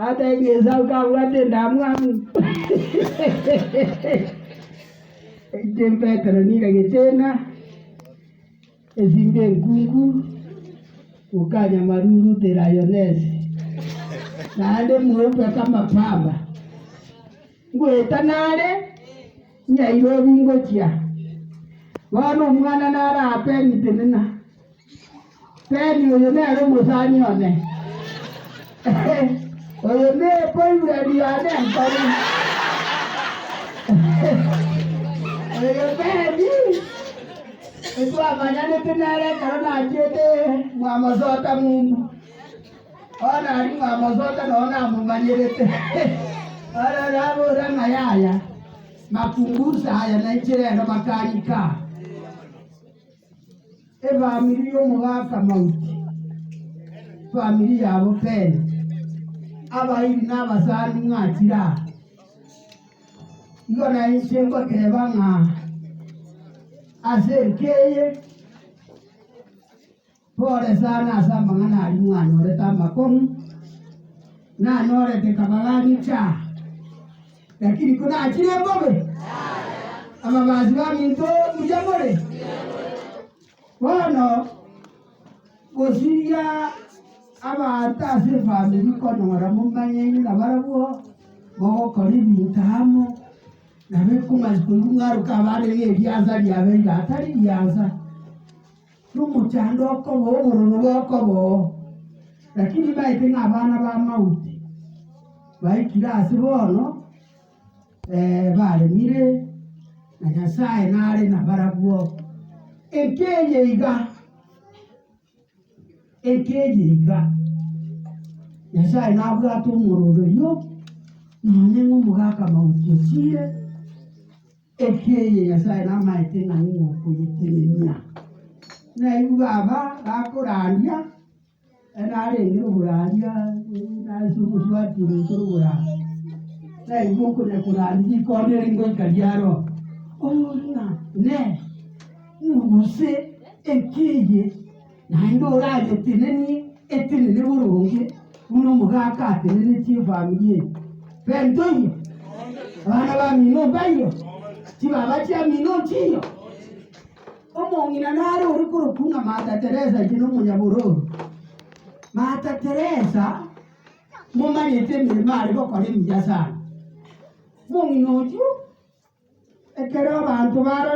Ateebie Esau kabwate endamwamu, Eite Petero niga getena, esimbe enkungu, gokanya maruru te rayonesi, naende mweupe kamapamba. Ngoeta nare Nyairobi ngochia. Bono omwana narape ng'itenena. Teri oyo nere omosani one, oyo ne boyfriend yane enkoro. Oyo Teri etwamanyanete nere ekero nachiete mwamosota mumbu. Bono nari mwamosota nonye namomanyerete. Bono nabora ng'a yaya, makumbusa aya nainche rero makanyi ka. Efamiri y'omogaka Mauti, efamiri yabo Pele, abairi na abasani mwachire aa. Igo na inche ngoteeba ng'a ase enka eye pole sana ase amang'ana aria mwanyorete amakong'u, nanyorete kabaga gachia Lakini konachire mbobe, ababaasi baminto mbuya more, bono gosiria abanto ase efamiri konyora momanyene nabarabwo, mogokora ebinto amo, nabo ekomanya koigwa ng'aruka abande ng'a eriansa riabeire atari riansa. nomochando okoba obororo bokoba oo, lakini baete ng'a abana b'amauti baikire ase bono eh, baremire, na Nyasae nare nabarabwo. Enki eye iga, enki eye iga, Nyasae nabwate omoroberio, nonya ng'omogaka mauti ochire, Ekiagera eye Nyasae namaete ng'a nigo okoyetenenia. Nainwe baba, bakorandia, e narengere oborandia, nase omosubati ogoikera oborandia, nainwe okonya korandia rikondo eri ngoika riaro, ore ng'a, Inee, ng'u gose ekiagera eye. Naende orayetenenie etenene boronge buna omogaka atenenetie efamiri eye. Bento iyo? Abana b'amino mbaiyo? Chibaba chi'amino nchiyo? Omong'ina nare ore korokwa ng'a Mata Teresa inche nomonyaborori. Mata Teresa momanyete emeremo are gokora emiya sana. Omong'ina oyio ekero abanto barorire